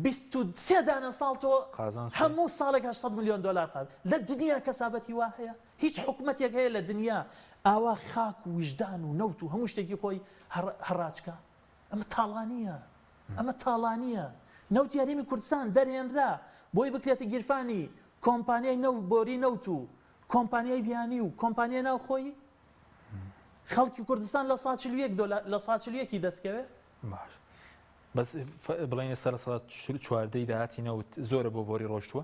بیست و سێ دانە ساڵ تۆ قازانج پێ هەموو ساڵێک هەشت سەد ملیۆن دۆلار قات لە دنیا کەسابەتی وا هەیە هیچ حکومەتێک هەیە لە دنیا ئاوا خاک و ویژدان و نەوت و هەموو شتێکی خۆی هەڕ هەڕاج کا ئەمە تاڵانییە، ئەمە تاڵانییە، نەوتی هەرێمی کوردستان دەرهێنرا بۆی بکرێتە گیرفانی کۆمپانیای نەوت، بۆری نەوت و کۆمپانیای بیانی و کۆمپانیای ناوخۆیی؟ خەڵکی کوردستان لە سەدا چل و یەک دۆلار، لە سەدا چل و یەکی دەستکەوێ؟ باش بەس بڵێن ئێستا لە سەدا چواردەی داهاتی نەوت زۆرە بۆ بۆری ڕۆشتووە،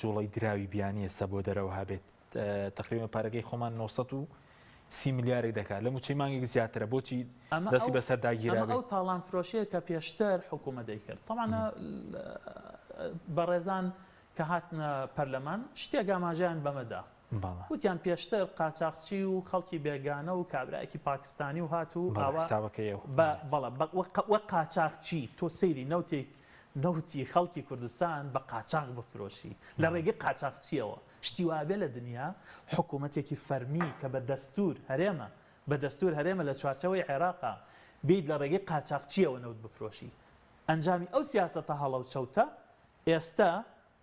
جوڵەی دراوی بیانیە سە بۆ دەرەوە هابێت تقریبا پارەکەی خۆمان 930 ملیارێک دەکات لە موچەی مانگێک زیاترە بۆچی دەستی بەسەر داگیرا ئەو تاڵان فرۆشەیە کە پێشتر حکوومە دەیکرد تەمانە بەڕێزان کە هاتنە پەرلەمان شتێک ئاماژیان بەمەدا وتیان پێشتر قاچاقچی و خەڵکی بێگانە و کابراایکی پاکستانی و هات و باوەکەی بەڵە وە قاچاقچی تۆ سەیری نەوتێک نەوتی خەڵکی کوردستان بە قاچاغ بفرۆشی لە ڕێگەی قاچاغچییەوە، شتی وا بێ لە دنیا حکوومەتێکی فەرمی کە بە دەستوور هەرێمە، بە دەستوور هەرێمە لە چوارچێوەی عێراقە، بێیت لە ڕێگەی قاچاغچییەوە نەوت بفرۆشی. ئەنجامی ئەو سیاسەتە هەڵە و چەوتە ئێستە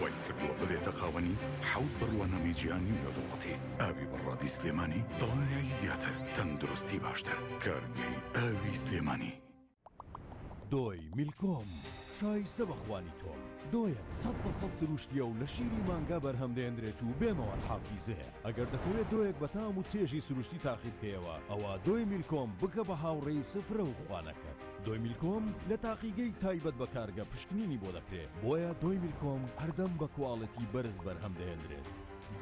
وای کردووە ببێتە خاوەنی حەوت بڕوانامەی جیهانی نێودەوڵەتی ئاوی بە ڕادی سلێمانی دڵنیایی زیاتر تەندروستی باشتر کارگەی ئاوی سلێمانی. دۆی میلکۆم شایستە بە خوانی تۆم دۆیەک سەد بە سەد سروشتیە و لە شیری مانگا بەرهەم دێنرێت و بێ مەواد حافیزەیە ئەگەر دەتەوێت دۆیەک بە تام و چێژی سروشتی تاقی بکەیەوە ئەوا دۆی میلکۆم بکە بە هاوڕێی سفرە و خوانەکەت. دۆیمیلکۆم لە تاقیگەی تایبەت بە کارگە پشکنینی بۆ دەکرێت، بۆیە دۆیمیلکۆم هەردەم بە کواڵێتی بەرز بەرهەم دەهێندرێت.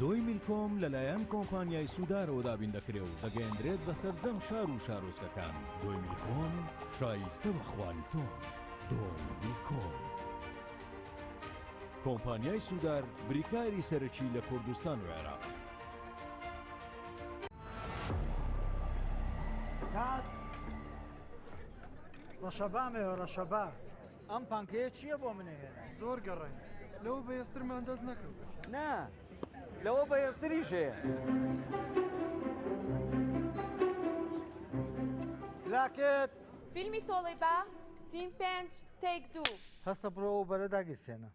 دۆیمیلکۆم لەلایەن کۆمپانیای سودارەوە دابین دەکرێ و دەگەیەندرێت بە سەرجەم شار و شارۆچکەکان. دۆیمیلکۆم شایستە بە خوانی تۆن. دۆیمیلکۆم. کۆمپانیای سودار بریکاری سەرەکی لە کوردستان و عێراق. کات. ڕەشەبا مەوێ ڕەشەبا ئەم پانکەیە چییە بۆ منە هێنا زۆر گەڕێن لەو بەێسترمان دەست نەکرد نا لەوە بەێستری ژێ لاکێت فیلمی تۆڵەی با سیم پێنج تێک دوو. هەستە بڕۆ ئەو بەرە داگیرسێنە.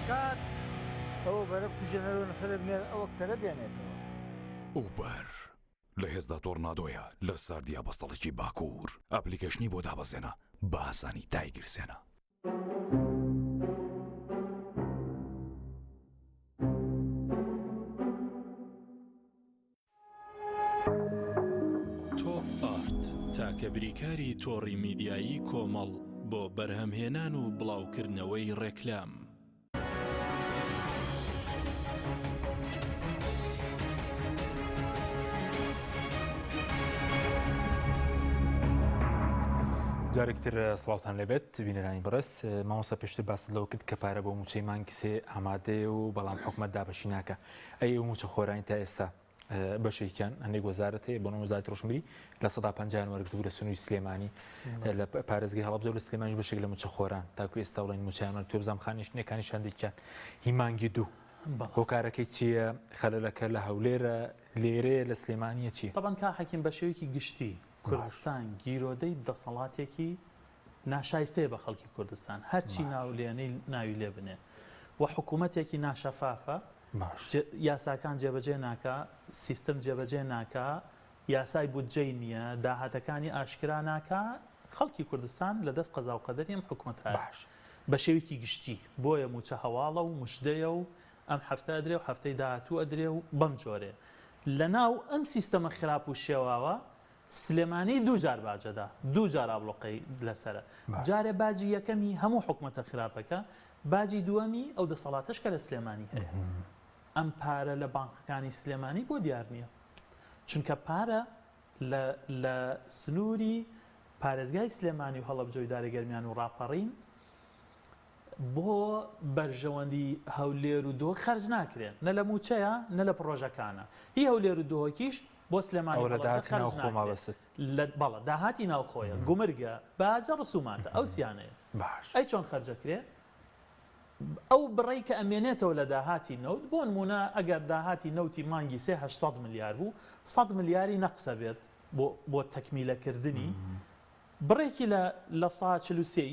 کات ئەوە بەرە بکوژێنەرەوە نەخەرە بنێر ئەوە کەرە بێنێتەوە. ئوبەر لە هێزدا تۆڕنادۆیە لە ساردیا بەستەڵەکی باکوور ئەپلیکەشنی بۆ دابەزێنە بە ئاسانی دایگرسێنە. تاکە بریکاری تۆڕی میدیایی کۆمەڵ بۆ بەرهەمهێنان و بڵاوکردنەوەی ڕێکلام. جارێکتر سڵاوان لەبێت بینەرانی بڕس مامۆسا پێشتر باس لەوە کرد کە پارە بۆ موچەی مانگسێ ئامادەیە و بەڵام حکومت دابەشی ناکە ئەی موچە خۆرانی تا ئێستا بەشێکیان هەندێک وەزارەت هەیە بۆنە وەزارت ڕۆشنبیری لە سەدا پنجیان وەرگتو لە سنووی سلێمانی لە پارێزگەی هەڵب زۆر لە سلێمانی بەشێک لە موچەخۆران تاکو ئێستا بڵێن موچیانمان تو بزانام خانیشتنەکانی شاندێکیان هیمانگی دوو هۆکارەکەی چییە خەلەکە لە هەولێرە لێرەیە لە سلێمانە چی تاان کا حەکیم بە شێوەیەکی گشتی کوردستان گیرۆدەی دەسەڵاتێکی ناشایستەیە بە خەڵکی کوردستان هەرچی ناولێنەی ناوی لێ بنێ و حکوومەتێکی ناشەفافە باش. یاساکان جێبەجێ ناکا، سیستم جێبەجێ ناکا، یاسای بودجەی نییە، داهاتەکانی ئاشکرا ناکا، خەڵکی کوردستان لە دەست قەزا و قەدەری ئەم حکومەتایە باش. بە شێوەیەکی گشتی، بۆیە مووچە هەواڵە و مژدەیە و ئەم هەفتە ئەدرێ و هەفتەی داهاتوو ئەدرێ و بەم جۆرەیە. لەناو ئەم سیستەمە خراپ و شێواوە سلێمانی دوو جار باجەدا دوو جار ئابڵۆقەی لەسەرە جارێ باجی یەکەمی هەموو حکومەتە خراپەکە باجی دووەمی ئەو دەسەڵاتەش کە لە سلێمانی هەیە ئەم پارە لە بانقەکانی سلێمانی بۆ دیار نییە چونکە پارە لە سنووری پارێزگای سلێمانی و هەڵەبجە و دارە گەرمیان و ڕاپەڕین بۆ بەرژەوەندی هەولێر و دهۆک خەرج ناکرێن، نە لە مووچەیە نە لە پڕۆژەکانە، هی هەولێر و دهۆکیش بۆ سلێمانی و هەڵەبجە خەرج ناکرێت، بەڵێ داهاتی ناوخۆیە، گومرگە، باجە، ڕسوماتە، ئەو سیانەیە ئەی چۆن خەرج ئەکرێ؟ ئەو بڕەی کە ئەمێنێتەوە لە داهاتی نەوت، بۆ نموونە ئەگەر داهاتی نەوتی مانگی سێ هەشت سەد ملیار بوو، سەد ملیاری نەقس ئەبێت بۆ تەکمیلەکردنی، بڕێکی لە سەها چل و سێی،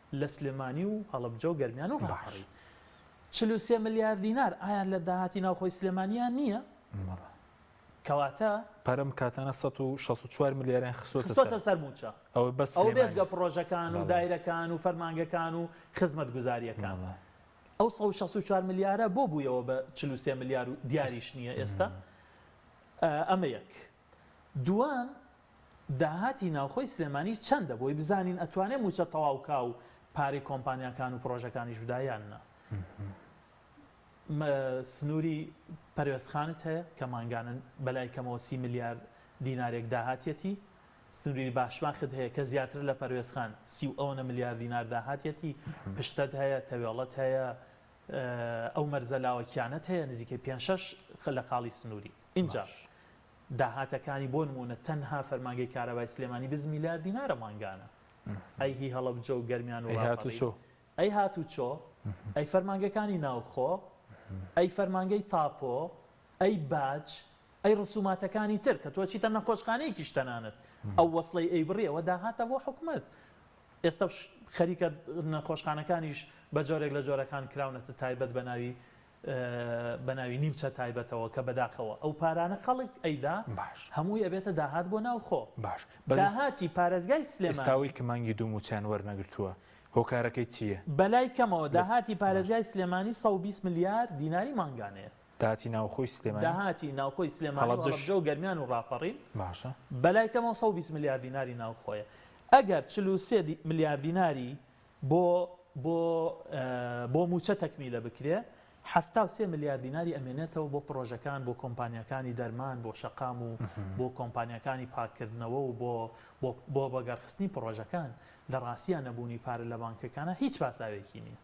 لە سلێمانی و هەڵەبجە و گەرمیان و راپەڕی چل و سێ ملیار دینار ئایا لە داهاتی ناوخۆی سلێمانیان نییە؟ بەڵێ. کەواتە. پارە ئەم کاتانە سەد و شەست و چوار ملیاریان خستۆتە سەر. خستۆتە سەر مووچە. ئەوە بەس سلێمانی. ئەوە بێجگە پڕۆژەکان و دایرەکان و فەرمانگەکان و خزمەتگوزارییەکان. بەڵێ. ئەو سەد و شەست و چوار ملیارە بۆ بوویەوە بە چل و سێ ملیار و دیاریش نییە ئێستا؟ ئەمە یەک. دووەم، داهاتی ناوخۆی سلێمانی چەندە بۆی بزانین ئەتوانێ مووچە تەواوکا و پارەی کۆمپانیاکان و پڕۆژەکانیش بدا یان نا؟ سنووری پەروێزخانت هەیە کە مانگانە بەلای کەمەوە سی ملیار دینارێک داهاتیەتی، سنووری باشماخت هەیە کە زیاترە لە پەروێزخان سی و ئەونە ملیار دینار داهاتیەتی، پشتت هەیە، تەوێڵەت هەیە، ئەو مەرزە لاوەکیانەت هەیە نزیکەی پێنج شەش لە خاڵی سنووری. ئینجا داهاتەکانی بۆ نموونە تەنها فەرمانگەی کارەبای سلێمانی بز میلیارد دینارە مانگانە ئەی هی هەڵەبجە و گەرمیان و ڕاپەڕین ئەی هاتوچۆ ئەی فەرمانگەکانی ناوخۆ ئەی فەرمانگەی تاپۆ ئەی باج ئەی ڕسوماتەکانی تر کە تۆ چیتە نەخۆشخانەیەکیش تەنانەت ئەو وەسڵەی ئەی بڕی ئەوە داهاتە بۆ حکومەت ئێستا خەریکە نەخۆشخانەکانیش بە جۆرێک لە جۆرەکان کراونەتە تایبەت بە ناوی بەناوی نیمچە تایبەتەوە کە بەداخەوە ئەو پارانە خەڵک ئەیدا باش. هەمووی ئەبێتە داهات بۆ ناوخۆ باش بەس ئێس داهاتی پارێزگای ئێستا سلێمانی. ئەوەی کە مانگی دوو مووچەیان وەرنەگرتووە هۆکارەکەی چی یە؟ بەلای کەمەوە بەس داهاتی باش. پارێزگای سلێمانی سەد و بیست ملیار دیناری مانگانەیە. داهاتی ناوخۆی سلێمانی؟ داهاتی ناوخۆی سلێمانی و هەڵەبجەش؟ هەڵەبجە و گەرمیان و ڕاپەڕین باشە. بەلای کەمەوە سەد و بیست ملیار دیناری ناوخۆیە ئەگەر چل و سێ دی ملیار دیناری بۆ بۆ بۆ مووچە تەکمیلە بکرێ، حەفتا و سێ ملیار دیناری ئەمێنێتەوە بۆ پڕۆژەکان، بۆ کۆمپانیاکانی دەرمان، بۆ شەقام و بۆ کۆمپانیاکانی پاککردنەوە و بۆ بۆ بۆ بەگەڕخستنی پڕۆژەکان، لە ڕاستیا نەبوونی پارە لە بانکەکانا هیچ پاساوێکی نییە.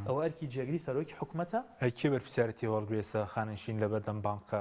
ئەوە ئەرکی جێگری سەرۆکی حکومەتە. ئەی کێ بەرپرسیارەتی هەوڵگرێ سەرخاننشین لە بەردەم بانکە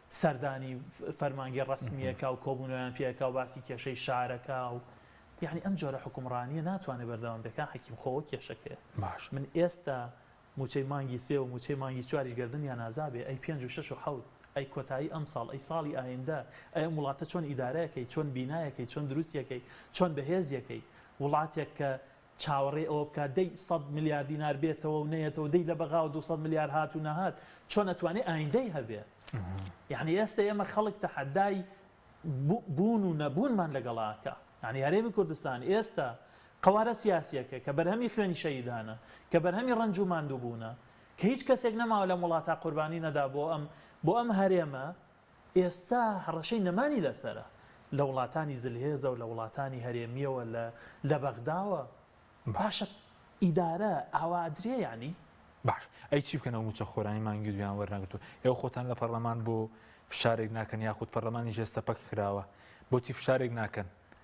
سەردانی فەرمانگە ڕەسمییەکە و کۆبوونەوەیان پێ ئەکا و باسی کێشەی شار ئەکا و یەعنی ئەم جۆرە حوکمڕانییە ناتوانێ بەردەوام بێ کاک حەکیم خۆ ئەوە کێشەکەیە باشە. من ئێستا مووچەی مانگی سێ و مووچەی مانگی چواریش گەردنیان ئازا بێ ئەی پێنج و شەش و حەوت ئەی کۆتایی ئەمساڵ ئەی ساڵی ئایندە ئەی ئەم وڵاتە چۆن ئیدارەیەکەی چۆن بینایەکەی چۆن دروستیەکەی چۆن بەهێزیەکەی وڵاتێک کە چاوەڕێی ئەوە بکات دەی سەد ملیار دینار بێتەوە و نەیەتەوە دەی لە بەغاوە دوو سەد ملیار هات و نەهات چۆن ئەتوانێ ئایندەی هەبێ یەعنی ئێستە ئێمە خەڵک تەحەدای بوون و نەبوونمان لەگەڵ ئاکا یەعنی هەرێمی کوردستان ئێستە قەوارە سیاسیەکە کە بەرهەمی خوێنی شەهیدانە کە بەرهەمی ڕەنج و ماندووبوونە کە هیچ کەسێک نەماوە لەم وڵاتا قوربانی نەدا بۆ ئەم بۆ ئەم هەرێمە ئێستا هەڕەشەی نەمانی لەسەرە لە وڵاتانی زلهێزە و لە وڵاتانی هەرێمیەوە لە لە بەغداوە باشە ئیدارە ئاوا ئەدرێ یانی؟ باش ئەی چی بکەن ئەو موچە خۆرانی مانگی دویان وەرنەگرتوە ئێوە خۆتان لە پەڕلەمان بۆ فشارێک ناکەن یاخود پەڕلەمانیش ئێستا پەک کراوە بۆچی فشارێک ناکەن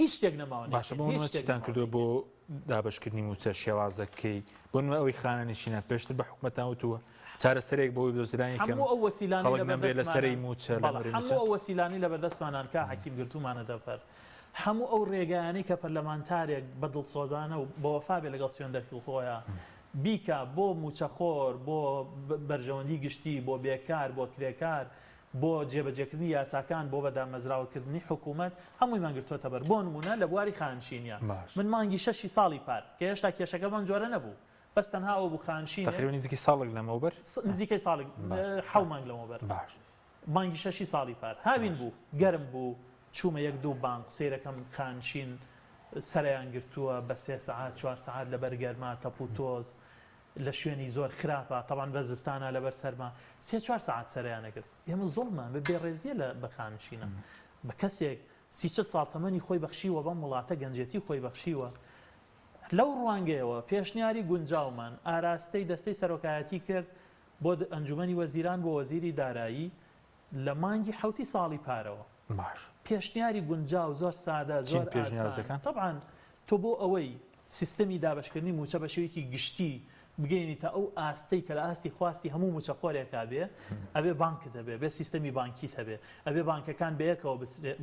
هیچ شتێک نەماوە نەیکەین باشە بۆ منوە چیتان کردوە بۆ دابشکردنی موچە شێوازەکەی بۆ نوێ ئەوی خانە نشینە پێشتر بە حکومەتان وتووە چارەسەرێک بۆی دۆزرانی کەم ئەو وەسیلانەی لە سەری موچە هەموو ئەو وەسیلانەی لە بەردەستمانان کا حەکیم گرتومانە دەرپەر هەموو ئەو ڕێگایانەی کە پەرلەمانتارێک بە دڵسۆزانە و بە وەفا بێ لەگەڵ سوێندەرکی خۆیە بیکا بۆ موچەخۆر بۆ بەرژەوەندی گشتی بۆ بێکار بۆ کرێکار بۆ جێبەجێکردنی یاساکان بۆ بەدامەزراوەکردنی حکوومەت هەموویمان گرتووەتە بەر، بۆ نموونە لە بواری خانشینییە باش. من مانگی شەشی ساڵی پار، کە هێشتا کێشەکە بەم جۆرە نەبوو، بەس تەنها ئەوە بوو خانشینێک. تەقریبەن نزیکەی ساڵێک لەمەوبەر؟ س، نزیکەی ساڵێک، باش. حەو مانگ لەمەوبەر. باش. مانگی شەشی ساڵی پار، هاوین باش. بوو، گەرم بوو، چوومە یەک دوو بانق، سەیرەکەم خانشین سەرەیان گرتووە بە سێ سەعات، چوار سەعات لەبەر گەرما، تەپوتۆز، لە شوێنی زۆر خراپە تەبان بە زستانا لەبەر سەرما سێ چوار سەعات سەرەیان ئەگرت ئێمە زۆڵمان بە بێ ڕێزیە لە بە خانشینا بە کەسێک سی چل ساڵ تەمەنی خۆی بەخشیوە بەم وڵاتە گەنجێتی خۆی بەخشیوە لەو ڕوانگەیەوە پێشنیاری گونجاومان ئاراستەی دەستەی سەرۆکایەتی کرد بۆ ئەنجومەنی وەزیران بۆ وەزیری دارایی لە مانگی حەوتی ساڵی پارەوە. باش. پێشنیاری گونجاو زۆر سادە چین زۆر پێشنیار ئاسان دەکەن؟ تەبعەن تۆ بۆ ئەوەی سیستەمی دابەشکردنی مووچە بە شێوەیەکی گشتی بگەیەنیتە ئەو ئاستەی کە لە ئاستی خواستی هەموو مووچەخۆرێکا بێ ئەبێ بانکت هەبێ ئەبێ سیستەمی بانکیت هەبێ ئەبێ بانکەکان بە یەکەوە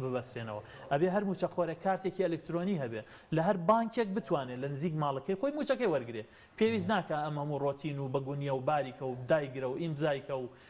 ببەسترێنەوە ئەبێ هەر مووچەخۆرێک کارتێکی ئەلکترۆنی هەبێ لە هەر بانکێک بتوانێ لە نزیک ماڵەکەی خۆی مووچەکەی وەرگرێ پێویست ناکا ئەم هەموو ڕۆتین و بەگونیە و باریکە و دایگرە و ئیمزای کە و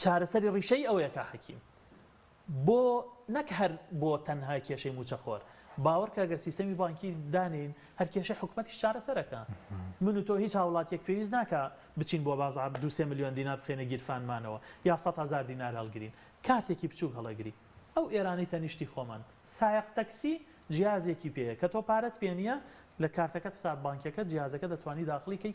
چارەسەری ڕیشەیی ئەوەیە کا حەکیم، بۆ نەک هەر بۆ تەنها کێشەی مووچەخۆر، باوەڕکە گەر سیستەمی بانکی دانێین، هەر کێشەی حکومەتیش چارەسەر ئەکا. من و تۆ هیچ هاوڵاتییەک پێویست ناکا بچین بۆ بازاڕ دوو سێ ملیۆن دینار بخەینە گیرفانمانەوە یا سەد هەزار دینار هەڵگرین، کارتێکی بچووک هەڵەگری ئەو ئێرانەی تەنیشتی خۆمان سایەق تەکسی جیازێکی پێیە کە تۆ پارەت پێ نییە لە کارتەکەت حساب بانکیەکەت جیازەکە دەتوانی داخڵی کەی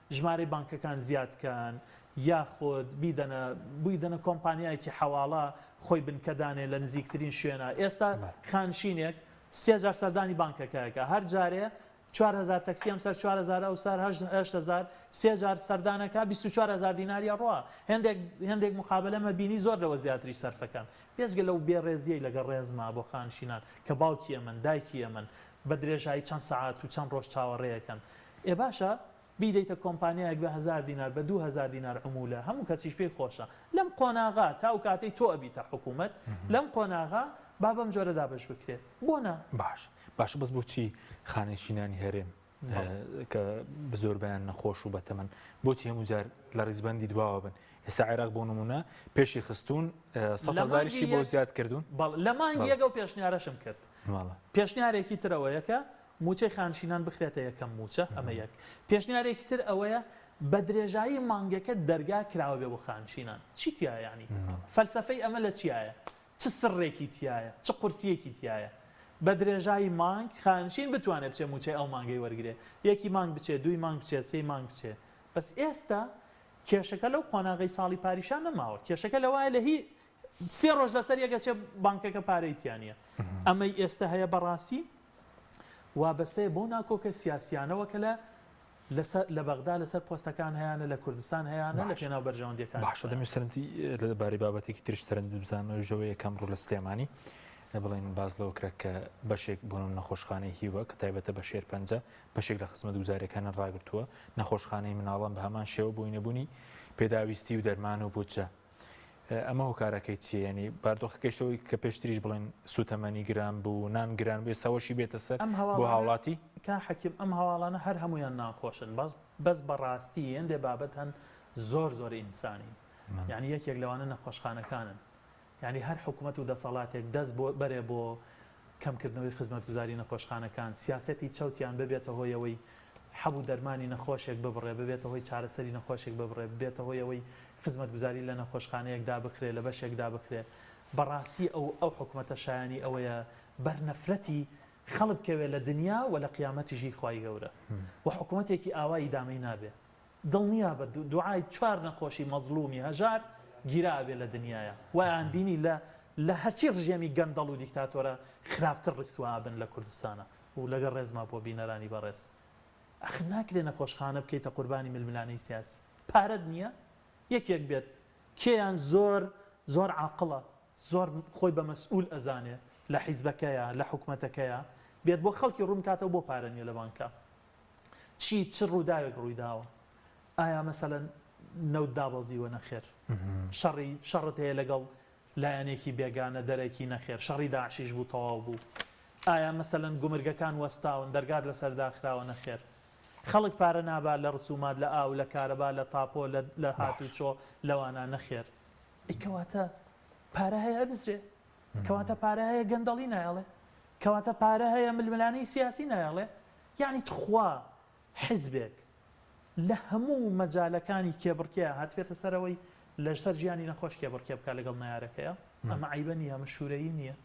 ژمارەی بانکەکان زیاد کەن یاخود بیدەنە بویدەنە کۆمپانیایەکی حەواڵە خۆی بنکە دانێ لە نزیکترین شوێنە ئێستا خانشینێک سێ جار سەردانی بانکەکەکە هەر جارێ چوار هەزار تەکسی ئەمسەر چوار هەزار ئەوسار هەشت هەشت هەزار سێ جار سەردانەکە بیست و چوار هەزار دیناری ئەڕوا هێندێک هێندێک موقابەلە مە بینی زۆر لەوە زیاتریش سەرفەکەن بێجگە لەو بێ ڕێزیەی لەگەڵ ڕێزما بۆ خانشینان کە باوکی ئەمەن دایکی ئەمەن بە درێژایی چەند سەعات و چەند ڕۆژ چاوەڕێیەکەن ئێ باشە بیدەیتە کۆمپانیایەک بە هەزار دینار بە دوو هەزار دینار عمولە هەموو کەسیش پێی خۆشە لەم قۆناغە تا ئەو کاتەی تۆ ئەبیتە حکوومەت لەم قۆناغە با بەم جۆرە دابەش بکرێت بۆ نا؟ باش باشە بەس بۆچی خانەنشینانی هەرێم کە بە زۆربەیان نەخۆش و بەتەمەن بۆچی هەموو جار لە ڕیزبەندی دواوە بن ئێستا عێراق بۆ نمونە پێشی خستون سەزاریشی بۆ زیاد کردوون بەڵ لە مانگی یەکەو پێشنیارەشم کرد بەڵێ. پێشنیارێکی تر ئەوەیە کە مووچەی خانشینان بخرێتە یەکەم مووچە، ئەمە یەک. پێشنیارێکی تر ئەوەیە بە درێژایی مانگەکە دەرگا کراوە بێ بۆ خانشینان. چی تیایە یانی؟ فەلسەفەی ئەمە لە چیایە؟ چ سڕێکی تیایە؟ چ قورسییەکی تیایە؟ بە درێژایی مانگ خانشین بتوانێ بچێ مووچەی ئەو مانگەی وەرگرێ. یەکی مانگ بچێ، دووی مانگ بچێ، سێی مانگ بچێ. بەس ئێستا کێشەکە لەو قۆناغەی ساڵی پاریشا نەماوە. کێشەکە لەوایە لە هی سێ ڕۆژ لەسەر یەک ئەچێ بانکەکە پارەی تیا نییە. ئەمەی ئێستە هەیە بەڕاستی وابەستەیە بەو ناکۆکە سیاسییانەوە کە لە لە بەغدا لەسەر پۆستەکان هەیەە لە کوردستان هەیەە لە پێناو بەرژەوەندەکان باشە دەمی سەرنجی لەبارەی بابەتێکی ترش سەرنج بزانەوەژەوە یەکەم ڕوو لە سلێمانی بڵێن باز لەوە کرا کە بەشێک بۆن و نەخۆشخانەی هیوە کە تایبەتە بە شێر پەنجە بەشێک لە خزمەت گوزارەکانە ڕاگرتووە نەخۆشخانەی مناڵان بە هەمان شێوە بۆی نەبوونی پێداویستی و دەرمان و بودجە ئەمە هۆکارەکەی چیە ینی باردۆخە گەشتەوەی کە پێشتریش بڵێن سوتەمەنی گران بوو نان گران بێ سەوەشی بێتە سەر ئەم هەوا بۆ هاوڵاتی کا حەکیم ئەم هەواڵانە هەر هەمویان ناخۆشن بەس بەس بەڕاستی هێندێ بابەت هەن زۆر زۆر ئینسانین یعنی یەکێک لەوانە نەخۆشخانەکانن یعنی هەر حکومەت و دەسەڵاتێک دەست بۆ بەرێ بۆ کەمکردنەوەی خزمەتگوزاری نەخۆشخانەکان، سیاسەتی چەوت یان ببێتە هۆی ئەوەی حەب و دەرمانی نەخۆشێک ببڕێ، ببێتە هۆی چارەسەری نەخۆشێک ببڕێ، ببێتە هۆی ئەوەی خزمەتگوزاری لە نەخۆشخانەیەک دابخرێ، لە بەشێک دابخرێ. بەڕاستی ئەو ئەو حکومەتە شایانی ئەوەیە بەر نەفرەتی خەڵک بکەوێ لە دنیا و لە قیامەتیشی خوای گەورە و حکومەتێکی ئاوا ئیدامەی نابێ. دڵنیابە دوعای چوار نەخۆشی مەزڵومی هەژار گیراوەبێ لە دنیایا وایان بینی لە لە هەرچی ڕژێمی گەندەڵ و دیکتاتۆرە خراپتر ڕیسوا ئەبن لە کوردستانا و لەگەڵ ڕێزما بۆ بینەرانی بەڕێز ئەخر ناکرێ نەخۆشخانە بکەیتە قوربانی ململانێی سیاسی پارەت نییە یەکێک بێت کێیان زۆر زۆر عاقڵە زۆر خۆی بە مەسئول ئەزانێ لە حیزبەکەیە لە حکومەتەکەیە بێت بۆ خەڵکی ڕوون کاتەوە بۆ پارە نییە لە بانکا چی چ ڕووداوێک ڕوویداوە ئایا مەسەلەن نەوت دابەزیوە نەخێر شەڕی شەڕت هەیە لەگەڵ لایەنێکی بێگانە دەرەکی نەخێر شەڕی داعشیش بوو تەواو بوو ئایا مەسەلەن گومرگەکان وەستاون دەرگات لەسەر داخراوە نەخێر خەڵک پارە نابات لە ڕسومات لە ئاو لە کارەبا لە تاپۆ لە هاتوچۆ لەوانە نەخێر ئەی کەواتە پارە هەیە ئەدزرێ کەواتە پارە هەیە گەندەڵی نایەڵێ کەواتە پارە هەیە ململانێی سیاسی نایەڵێ یەعنی تخوا حزبێک لە هەموو مەجالەکانی کێبڕکێ هاتبێتە سەرەوەی لەژسەر ژیانی نەخۆش کێبڕکێ بکا لەگەڵ نەیارەکەیا ئەمە عەیبە نیە ئەمە شورەیی نیە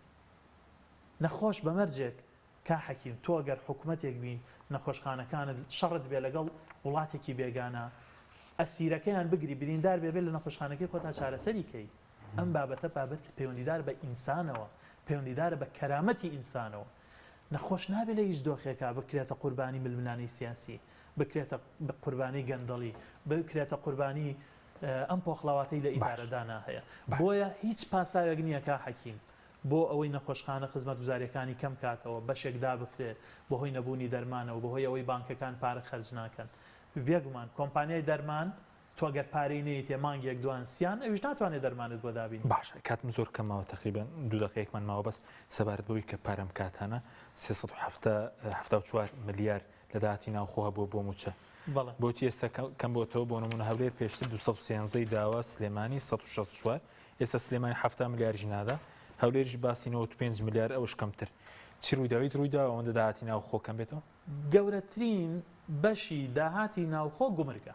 نەخۆش بە مەرجێک کا حەکیم تۆ گەر حکومەتێک بی نەخۆشخانەکانت شەڕت بێ لەگەڵ وڵاتێکی بێگانە ئەسیرەکەیان بگری بریندار بێ بێ لە نەخۆشخانەکەی خۆتا چارەسەری کەی ئەم بابەتە بابەتێکی پەیوەندیدارە بە ئینسانەوە، پەیوەندیدارە بە کەرامەتی ئینسانەوە. نەخۆش نابێت لە هیچ دۆخێکا بکرێتە قوربانی ململانێی سیاسی، بکرێتە قوربانی گەندەڵی، بکرێتە قوربانی ئەم پۆخڵاواتەی لە ئیدارەدانا هەیە. بۆیە هیچ پاساوێک نییە کا حەکیم بۆ ئەوەی نەخۆشخانە خزمەتگوزارییەکانی کەمکاتەوە، بەشێک دابخرێت بەهۆی نەبوونی دەرمانەوە، بەهۆی ئەوەی بانکەکان پارە خەرج ناکەن. بێگومان کۆمپانیای دەرمان تۆ گەر پارەی نەیتێ مانگێک دوان سیان ئەویش ناتوانێ دەرمانت بۆ دابینێ. باشە کاتم زۆر کەم ماوە تەقریبەن دوو دەقەیەکمان ماوە بەس سەبارەت بەوەی کە پارەم کاتانە سێ سەد و حەفتا حەفتا و چوار ملیار لە داهاتی ناوخۆ هەبووە بۆ مووچە بەڵێ بۆچی ئێستا کەم بۆتەوە بۆ نموونە هەولێر پێشتر دوو سەد و سێزدە ی داوە سلێمانی سەد و شەست و چوار ئێستا سلێمانی حەفتا ملیاریش نادا هەولێریش باسی نەوەد و پێنج ملیار ئەوش کەمتر چی ڕوویدا هیچ ڕوویدا ئەوەندە داهاتی ناوخۆ کەم بێتەوە؟ گەورەترین بەشی داهاتی ناوخۆ گومرگە.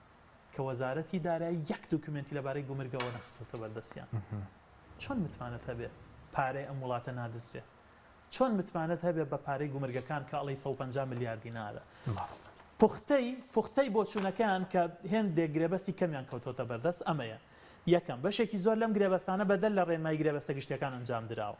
کە وەزارەتی دارایی یەک دوکیومێنتی لەبارەی گومرگەوە نەخستۆتە بەردەستیان چۆن متمانەت هەبێ پارەی ئەم وڵاتە نادزرێ چۆن متمانەت هەبێ بە پارەی گومرگەکان کە ئەڵێی سەد و پەنجا ملیار دینارە پوختەی پوختەی بۆچوونەکەیان کە هێندێک گرێبەستی کەمیان کەوتۆتە بەردەست ئەمەیە یەکەم بەشێکی زۆر لەم گرێبەستانە بەدەر لە ڕێنمایی گرێبەستە گشتیەکان ئەنجام دراوە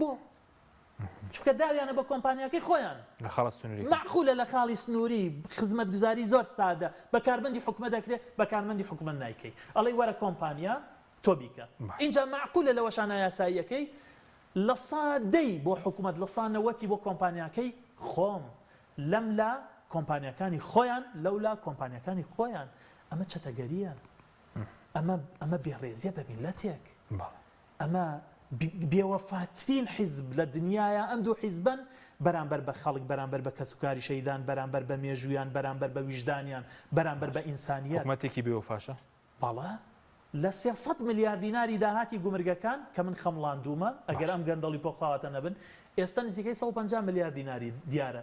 بۆ؟ چونکە داویانە بە کۆمپانیاکەی خۆیان. لە خاڵە سنووریەکان. مەعقولە لە خاڵی سنووری، خزمەتگوزاری زۆر سادە، بە کارمەندی حکومەت ئەکرێ، بە کارمەندی حکومەت نایکەی. ئەڵێی وەرە کۆمپانیا تۆ بیکە. ئینجا مەعقولە لەوەشا نایاسایی ئەکەی لە سا دەی بۆ حکومەت لە سا نەوەتی بۆ کۆمپانیاکەی خۆم. لەم لا کۆمپانیاکانی خۆیان، لەو لا کۆمپانیاکانی خۆیان. ئەمە چەتەگەرییە. ئەمە ئەمە بێڕێزییە بە میللەتێک. بەڵێ. ئەمە بێوەفاترین حیزب لە دنیایە ئەم دوو حیزبەن بەرامبەر بە خەڵک بەرامبەر بە کەس و کاری شەهیدان بەرامبەر بە مێژوویان بەرامبەر بە ویژدانیان بەرامبەر بە باش ئینسانیەت. حکومەتێکی بێ وەفاشە. بەڵێ لە سێ سەد ملیار دیناری داهاتی گومرگەکان کە من خەمڵاندوومە ئەگەر باش. ئەم گەندەڵی پۆخڵاواتە نەبن ئێستا نزیکەی سەد و پەنجا ملیار دیناری دیارە